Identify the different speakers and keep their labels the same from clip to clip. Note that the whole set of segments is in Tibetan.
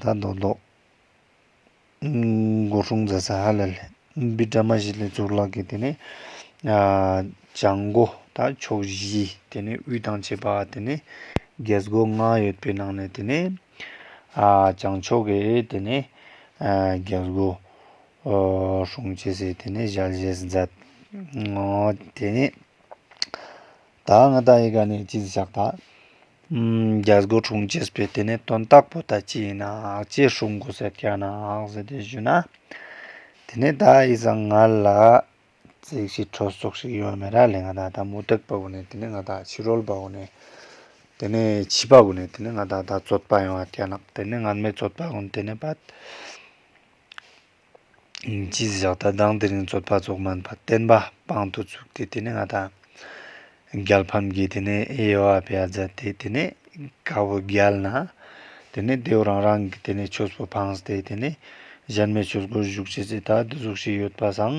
Speaker 1: ད་མདོག་མདོག། མགོ་ཧྲུང་རྫ་ས་ཧ་ལ་ལས་འབི་བཀྲ་མ་བཞི་ལས་གཙུག་ལག་གི་དེ་ནས། བྱང་སྒོ་དང་ཕྱོགས་བཞི་དེ་ནས་དབུས་དང་བྱེས་པ་དེ་ནས། རྒྱལ་སྒོ་ལྔ་ཡོད་པའི་ནང་ནས་དེ་ནས། བྱང་ཕྱོགས་ཀྱི་དེ་ནས། རྒྱལ་སྒོ། ཧྲུང་བྱེས་སའི་དེ་ནས་ཞལ་བཞེས་མཛད། དེ་ནས། ད་ང་ད་ཡི་ག་ནས་ཅིག་བཞག་ད། རྒྱ་སྒོ་དྲུང་ཅེས་པའི་དེ་ནས་དོན་རྟགས་པོ་ད་ཅི་ཡིན་ནག་ཅེས་ཧྲུལ་མགོ་ཟེར་ག་ནག་ཟེར་དེ་བཞུ་ན། དེ་ནས་ད་ཡི་ཟ་ང་ལ། ཙིག་ཤི་ཁྲོ་སོགས་ཤིག་ཡོད་མེད་ར་ལས་ང་ད་ད་མུ་དྲེག་པ་བོ་ནས་དེ་ནས་ང་ད་ཕྱི་རོལ་པ་བོ་ནས། དེ་ནས་ཕྱི་པ་བོ་ནས་དེ་ནས་ང་ད་ད་རྩོད་པ་ཡོང་བ་ག་ནག་དེ་ནས་ང་མེད་རྩོད་པ་བོ་ནས་དེ་ནས་བ། ཅི་བཞག་ད་ལྡང་དེ་རིང་རྩོད་པ་རྫོགས་མིན་པར་བསྟན་པ་དཔང་དུ་བཙུགས་ཏེ་དེ་ནས་ང་དང་རྒྱལ་ཕམ་གྱིས་དེ་ནས་དབྱེ་བ་བརྒྱ་རྩ་སྟེ་དེ་ནས་དགའ་བོ་བརྒྱལ་ན་དེ་ནས་རྡེའུ་རང་རང་གི་དེ་ནས་ཆོས་སུ་འཕངས་ཏེ་དེ་ནས་གཞན་མའི་ཆོས་སྒོར་བཞུགས་བྱེད་ཅེས་ད་དུ་གཟུགས་ཤིག་ཡོད་པ་བཟང།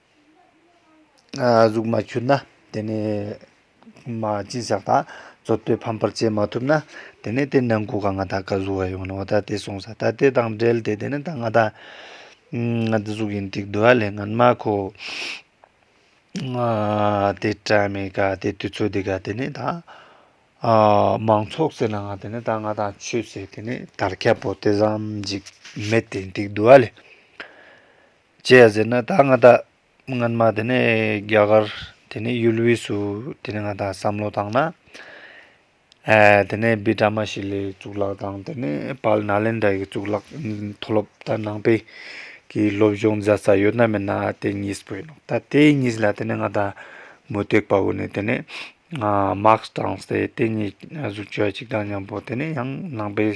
Speaker 1: གཟུགས་མ་འཁྱུད་ན་དེ་ནས་མ་སྤྱིན་བཞག་དང་རྩོལ་བསྟོད་ཕམ་པར་བྱེད་མ་ཐུབ་ན་དེ་ནས་དེ་ནང་གོ་ག་ང་ད་ག་གཟུགས་ཡོང་ནོ་ད་དེ་སོང་ས་ད་དེ་དང་འབྲེལ་ཏེ་དེ་ནས་ད་ང་ད་ང་འདི་གཟུགས་ཡིན་ཏིག་འདུལ་བ་ལས་ངན་མ་ཁོ་དེ་བཀྲ་མི་དགའ་དེ་དུས་ཚོད་འདི་དགའ་དེ་ནས་ད་མང་ཚོགས་ཟེར་ན་ང་དེ་ནས་ད་ང་ད་ཆོས་ཟེར་དེ་ནས་དར་ཁྱབ་པོ་དེ་ཟམ་འཇིགས་མེད་དེ་ཏིག་འདུལ་བ་ལས། ཅེས་ཟེར་ན་ད་ང་བདག་སྔོན་མ་དེ་ནས་རྒྱ་གར་དེ་ནས་ཡུལ་དབུས་སུ་དེ་ནས་ང་བདག་བསམ་བློ་བཏང་ན། དེ་ནས་བི་ཀྲ་མ་ཤི་ལའི་གཙུག་ལག་དང་དེ་ནས་པཱལ་ནཱ་ལན་དཱའི་གཙུག་ལག་མཐོ་སློབ་དང་ནང་པའི་གི་སློབ་སྦྱོང་མཛད་ས་ཡོད་ན་མེད་ན་དེ་གཉིས་པོ་ཡིན་ནོ་ད་དེ་གཉིས་ལ་དེ་ནས་ང་བདག་མུ་སྟེགས་པ་བོ་ནས་དེ་ནས། མཱག་སི་དང་སི་ཏེ་དེ་གཉིས་གཟུགས་བྱད་གཅིག་དང་མཉམ་པོ་དེ་ནས་ཡང་ནང་པའི་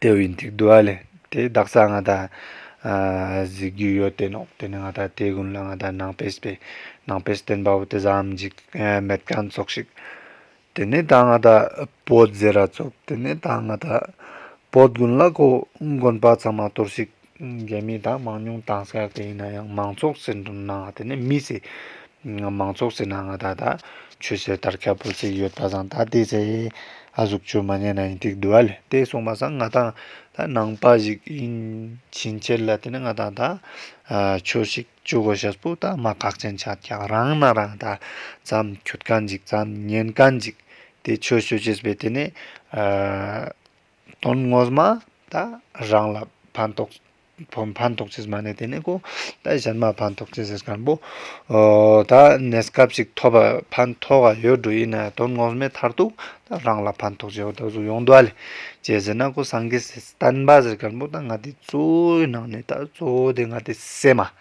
Speaker 1: དེ་བས་འདི་བསྡུ་བ་ལས་དེ་བདག་ས་ང་ད་གཟིགས་རྒྱུ་ཡོད་དེ་ནོ་དེ་ནི་ང་ད་དེ་དགོན་ལ་ང་ད་ནང་པས་པས་ནང་པས་བསྟན་པ་བོ་དེ་བཟའམ་འཇིག་མེད་གང་ཚོགས་ཤིག། དེ་ནི་ད་ང་ད་བོད་རྫས་ར་ཚོགས་དེ་ནི་ད་ང་ད་བོད་དགོན་ལ་གོ་དགོན་པ་ཚང་མ་གཏོར་ཤིག། འགལ་མེད་དང་མང་ཉུང་དྭངས་གསལ་ག་ཡིན་ན་ཡང་མང་ཚོགས་ཟེར་འདུག་ན་དེ་ནི་མི་ཟེར། མང་ཚོགས་ཟེར་ན་ང་ད་ད་ཆོས་ཟེར་དར་ཁ་པོ་ཟེར་ཡོད་པ་བཟང་ད་དེ་ཟེར། ཨ་གཟུགས་ཆོས་མ་རྙེད་ན་ཡིན་ཏིག་འདུག་ཨ་དེ་གསུངས་པ་བཟང་ང་ད་ད་ནང་པ་ཞིག་ཡིན་ཕྱིན་ཆད་ལ་དེ་ནི་ང་ད་ད་ཆོས་ཤིག་ཅུ་གོ་ཤ་སྤུ་ད་མ་གག་ཅན་ཆ་ཀྱ་རང་ན་རང་ད་ཙམ་འཁྱུད་ཀ་འཇིག་ཙམ་ཉན་ཀ་འཇིག་དེ་ཆོས་ཤོད་ཅེས་པའི་དེ་ནི། དོན་ངོ་མ་ད་རང་ལ་ཕན་ཐོགས་ཕན་ཐོགས་ཆེ་མ་ནས་དེ་ནས་ཀོ་ད་གཞན་མ་ཕན་ཐོགས་ཆེ་ཟེར་སྐམ་པོ་ད་གནས་སྐབས་ཅིག་ཐོབ་པ་ཕན་ཐོགས་ཨ་ཡོད་འགྲོ་ཡིན་ནའི་དོན་ངོ་མའི་མཐར་ཐུག་ད་རང་ལ་ཕན་ཐོགས་ཆེ་བ་ད་གཟུགས་ཡོངས་འདུ་བ་ལས་ཆེ་ཟེར་ན་ཀོ་སངས་རྒྱས་སེ་བསྟན་པ་ཟེར་སྐམ་པོ་ད་ང་དེ་གཙོའི་ནང་ནས་ད་གཙོ་བོ་དེ་ང་དེ་སེ་མ།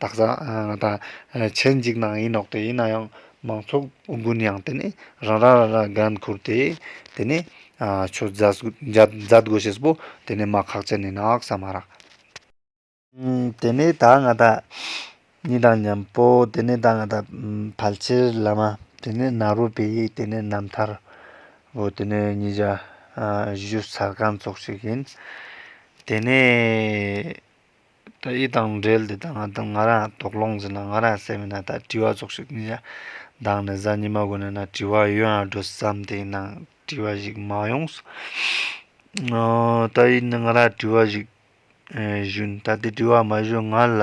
Speaker 1: བདག་བཟང་དང་ཆེར་འཇིགས་སྣང་ཡིན་ནོག་སྟེ་ཡིན་ན་ཡང་མང་ཚོགས་དགུན་གཡང་དེ་ནས་རང་རང་རང་རང་སྒང་འཁུར་ཏེ་དེ་ནས་ཆུ་རྫ་རྒོད་ཞེས་པོ་དེ་ནས་མ་ཁག་ཅན་ནས་ནག་ས་མ་རག། དེ་ནས་ད་ང་ད་ནི་དང་མཉམ་པོ་དེ་ནས་ད་ང་ད་ཕལ་ཆེར་བླ་མ་དེ་ནས་ནཱ་རོ་པི་དེ་ནས་རྣམ་ཐར་བོ་དེ་ནས་ཉིས་བརྒྱ་བཞུ་ས་སྒང་ཚོགས་ཞིག་ཡིན་དེ་ནས། ད་ཡིད་དང་འབྲེལ་དེ་དང་ང་ང་རང་དོགས་སློང་ཟིན་ན་ང་རང་སད་མི་ན་ད་དྲི་བ་ཙོག་ཞིག་ཉིན་ཞག་འདང་ནས་གཟའ་ཉི་མ་དགོ་ནས་ན་དྲི་བ་ཡོད་ཡང་སྒྲོ་བསམ་དེ་ཡིན་ན་དྲི་བ་ཞིག་མ་ཡོང་ད་ཡིད་ནི་ང་རང་དྲི་བ་ཞིག་ཞུས་ད་དེ་དྲི་བ་མ་ཞུས་ང་ལ།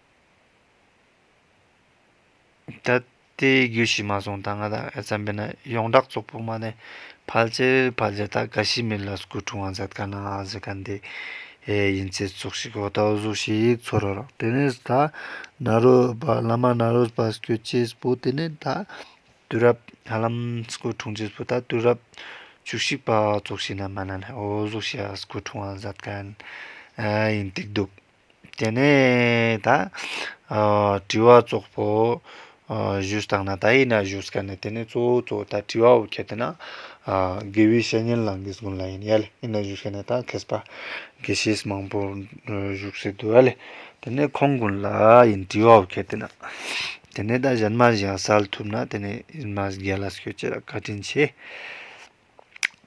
Speaker 1: ད་ལྟའི་རྒྱུད་ཞིག་མ་སོང་ད་སྔ་ད་ཨེ་ཙམ་པས་ན་ཡོངས་གྲགས་ཙོག་པུ་མ་ནས་ཕལ་ཆེར་ཕལ་ཆེར་ད་ག་ཤི་མིར་ལ་སྐུ་འཁྲུངས་བ་ཟད་ཀ་ན་ཨ་ཟི་ཀ་འདི་ཡིན་ཚེ་ཙོག་ཤི་གོ་ད་གཟུགས་ཤིག་ཚོར་རོ་རོགས་དེ་ནས་ད་ན་རོས་པ་བླ་མ་ན་རོས་པ་སྐྱོ་སྐྱེས་པོ་དེ་ནས་ད་དུས་རབས་ཧ་ལམ་སྐུ་འཁྲུངས་རྗེས་སུ་ད་དུས་རབས་བཅུ་གཅིག་པ་ཙོག་ཤི་ན་མ་ན་ནས་ཨོ་གཟུགས་ཤིག་ཨ་སྐུ་འཁྲུངས་བ་ཟད་ཀ་ཡིན་ཏིག་འདུག། དེ་ནས་ད་དྲི་བ་ཙོག་པོ་བཞུས་བཏང་ན་ད་ཡིན་ན་བཞུས་སྐད་ནི་དེ་ནས་གཙོ་བོ་གཙོ་བོ་ད་དྲི་བ་བོ་ཁད་དེ་ན་དགེ་བའི་བཤེས་གཉེན་ལ་འགེས་དགོན་ལ་ཡིན་ཡལ་ཡིན་ན་བཞུས་སྐད་ནི་ད་ཁེས་པ་དགེ་བཤེས་མང་པོ་བཞུགས་སེ་དུ་ཨལ་དེ་ནས་ཁོང་དགོན་ལ་ཡིན་དྲི་བ་བོ་ཁད་དེ་ན་དེ་ནས་ད་གཞན་མ་གཞན་གསལ་ཐུབ་ན་དེ་ནས་ཡིན་མ་གཞན་ལ་སྐྱོད་ཅེས་ལ་བཀའ་དྲིན་ཆེ།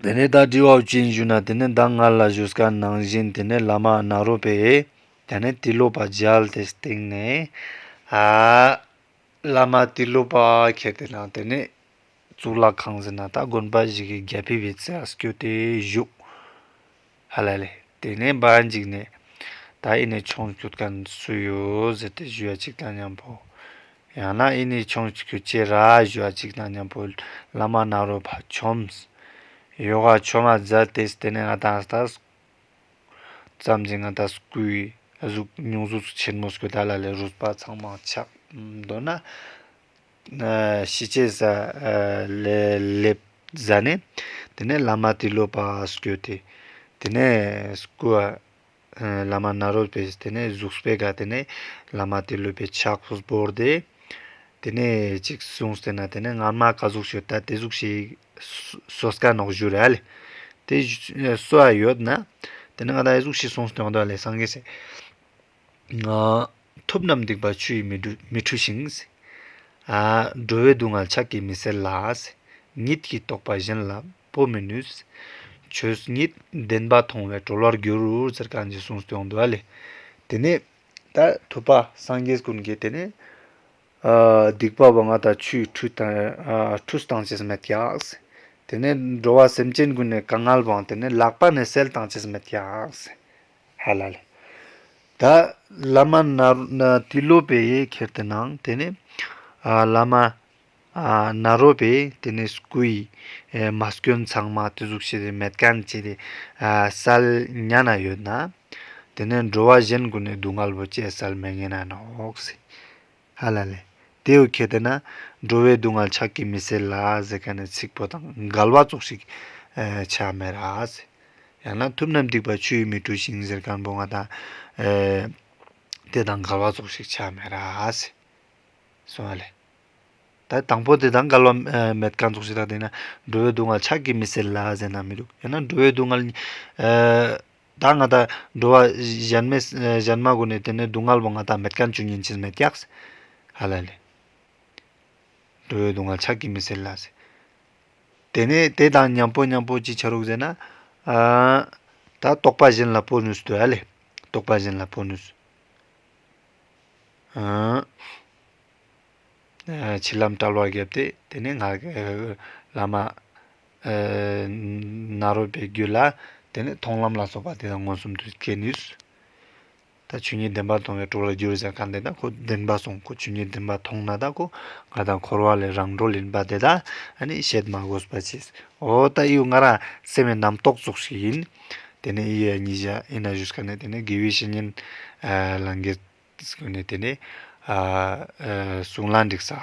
Speaker 1: དེ་ནས་ད་དྲི་བའོ་ཅིན་ཞུ་ན་དེ་ནས་མདང་ངར་ལ་བཞུགས་སྐར་ནང་བཞིན་དེ་ནས་བླ་མ་ནཱ་རོ་པས་དེ་ནས་ཏི་ལོ་པ་བརྒྱལ་ཏེ་སྟེང་ནས། བླ་མ་ཏི་ལོ་པ་ཁྱེར་ཏེ་ནང་དེ་ནས་གཙུག་ལག་ཁང་ཟིན་ན་ད་དགོན་པ་ཞིག་གི་རྒྱལ་ཕི་བའི་རྩེ་ཨ་སྐྱོ་ཏེ་བཞུགས། ཧ་ལས་ལས། དེ་ནས་སྦ་འཇིགས་ནས། ད་ཨི་ནས་ཆོངས་ཁྱོད་ག་སུ་ཡོད་ཟེར་ཏེ་བཞུ་བ་ཅིག་དང་མཉམ་པོ། ཡང་ན་ཨི་ནས་ཆོངས་ཁྱོད་ཅེ་ར་བཞུ་བ་ཅིག་དང་མཉམ་པོ་བླ་མ་ནཱ་རོ་བ་ཆོམས། ཡོ་ག་ཆོ་མ་ཛ་ཏེས་དེ་ནས་ཨ་ཏཱ་ཏཱ་སྐུ། བརྩམས་ཅིང་ཨ་ཏཱ་སྐུའི་གཟུགས་བསྙུང་གཟུགས་སུ་ཆེན་མོ་སྐུ་དཱ་ལ་ལས་རུས་པ་ཚང་མ་ཆགས། མདོར་ན། ཤི་ཆད་ས་ལས་སླེབ་ཟ་ནས་དེ་ནས་བླ་མ་ཏི་ལོ་པ་སྐྱོ་སྟེ་དེ་ནས་སྐུ། བླ་མ་ནཱ་རོ་པས་དེ་ནས་གཟུགས་སྤེལ་དགའ་དེ་ནས་བླ་མ་ཏི་ལོ་པས་ཕྱག་བསྐོར་ཏེ། དེ་ནས་ཅིག་གསུངས་ཏེ་ན་དེ་ནས་སྔར་མ་ག་གཟུགས་ཤོད་ད་དེ་གཟུགས་ཤིག། སོ་སྐ་ནོག་བཞུ་ར་ལས་དེ་སོ་ཡོད་ན་དེ་ནས་ང་ད་གཟུགས་ཤིག་གསུངས་ཏེ་ང་ད་ལས་སངས་རྒྱས་སྲས། ཐུབ་རྣམས་སྡིག་པ་ཆུ་ཡིས་མི་འཁྲུ་ཞིང། འགྲོ་བའི་སྡུག་བསྔལ་ཕྱག་གིས་མི་སེལ་ལ། ཉིད་ཀྱིས་རྟོགས་པ་གཞན་ལ་སྤོ་མི་ནུས། ཆོས་ཉིད་བདེན་པ་མཐོང་བས་གྲོལ་བར་འགྱུར། དེ་ནས་ད་ཐུབ་པ་སངས་རྒྱས་ཀུན་གྱི་དེ་ནས། སྡིག་པ་བ་ང་དང་ཆུ་ཡིས་འཁྲུ་དང་ཅི་སྨྲས་ཀྱང། དེ་ནས་འགྲོ་བ་སེམས་ཅན་ཀུན་ནས་ག་ངལ་བང་དེ་ནས་ལག་པ་ནས་སེལ་དང་ཅི་སྨྲས་ཀྱང། ཧ་ལ་ལ། ད་བླ་མ་ནཱ་རོ་པས་ཁྱེར་ཏེ་གནང། དེ་ནས་བླ་མ་ནཱ་རོ་པས་དེ་ནས་སྐུ་ཡི་མ་སྐྱོན་ཚང་མ་བརྟུལ་ཟུག་བྱས་ཏེ་མལ་ཁང་བཅས་ཏེ་སལ་གཉའ་ན་ཡོད་ན། དེ་ནས་འགྲོ་བ་གཞན་ཀུན་ནས་སྡུག་བསྔལ་བོ་སྐྱེ་སལ་མེ་ངན་ན་ནོ། ཨ་ལ་ལས། དེ་ཡོད་ཁྱེད་དེ་ན། འགྲོ་བའི་སྡུག་བསྔལ་ཆགས་ཀྱི་མི་སེར་ལ་ཟེར་ག་ནས་ཚིག་ཕོ་དང་འགལ་བ་ཙོག་ཞིག་བྱ་མེད་ར་ཟེར། ཡང་ན་ཐུབ་ན་འདུས་པ་ཆུ་ཡིས་མི་བཀྲུ་ཞིང་ཟེར་གང་བུང་བ་དང། དེ་དང་འགལ་བ་ཙོག་ཞིག་བྱ་མེད་ར་ཟེར། གསུང་ཨ་ལས། ད་དང་བོ་དེ་དང་འགལ་བ་མེད་གང་ཙོག་ཞིག་དང་དེ་ན། འགྲོ་བའི་སྡུག་བསྔལ་ཆགས་ཀྱི་མི་སེར་ལ་ཟེར་ན་མི་འདུག་ཡང་ན་འགྲོ་བའི་སྡུག་བསྔལ། ད་ང་ད་འགྲོ་བ་གཞན་མེད་གཞན་མ་གོ་ནས་དེ་ནས་སྡུག་བསྔལ་བོ་ང་ད་མེད་གང་བཅུ་གཉིས་མཆིས་མེད་ཀྱགས། ཧ་ལ་ལས། འགྲོ་བའི་སྡུག་བསྔལ་ཆགས་ཀྱི་མི་སེར་ལ། དེ་ནས་དེ་དང་མཉམ་པོ་མཉམ་པོ་ཅི་བྱ་རོག་ཟེར་ན། ད་རྟོགས་པ་གཞན་ལ་བོར་ནུས་སུ་དུ་ཨ་ལས། རྟོགས་པ་གཞན་ལ་བོར་ནུས་སུ། བྱིས་ལམ་བཀྲལ་བར་བརྒྱབ་སྟེ་དེ་ནས་ང། བླ་མ། ནཱ་རོ་པའི་རྒྱུད་ལ་དེ་ནས་མཐོང་ལམ་ལ་སོགས་པ་དེ་དང་མངོན་སུམ་དུ་སྐྱེ་ནུས། ད་ཆུ་གཉིས་བདེན་པར་མཐོང་བའི་དྲུག་ལ་འགྱུར་ཟེར་གང་དེ་དག་ཁོ་བདེན་པ་སོང་ཁོ་ཆུ་གཉིས་བདེན་པར་མཐོང་ན་དག་གོ་ང་དང་འཁོར་བ་ལས་རང་གྲོལ་ཡིན་པ་དེ་དག་ནི་བཤད་མ་དགོས་པ་ཆེ། འོ་ད་དབྱུག་ང་རང་སེམས་ཡི་རྣམ་རྟོག་ཚོགས་ཤིག་ཡིན། དེ་ནས་ཨི་ཡ་ཉི་ཤ་ཨི་ན་ཞུས་ཀ་ནས་དེ་ནས་དགེ་བའི་བཤེས་གཉེན་ལ་འགལ། ཟེར་ནས་དེ་ནས་གཟུངས་ལ་འདྲིག་ས།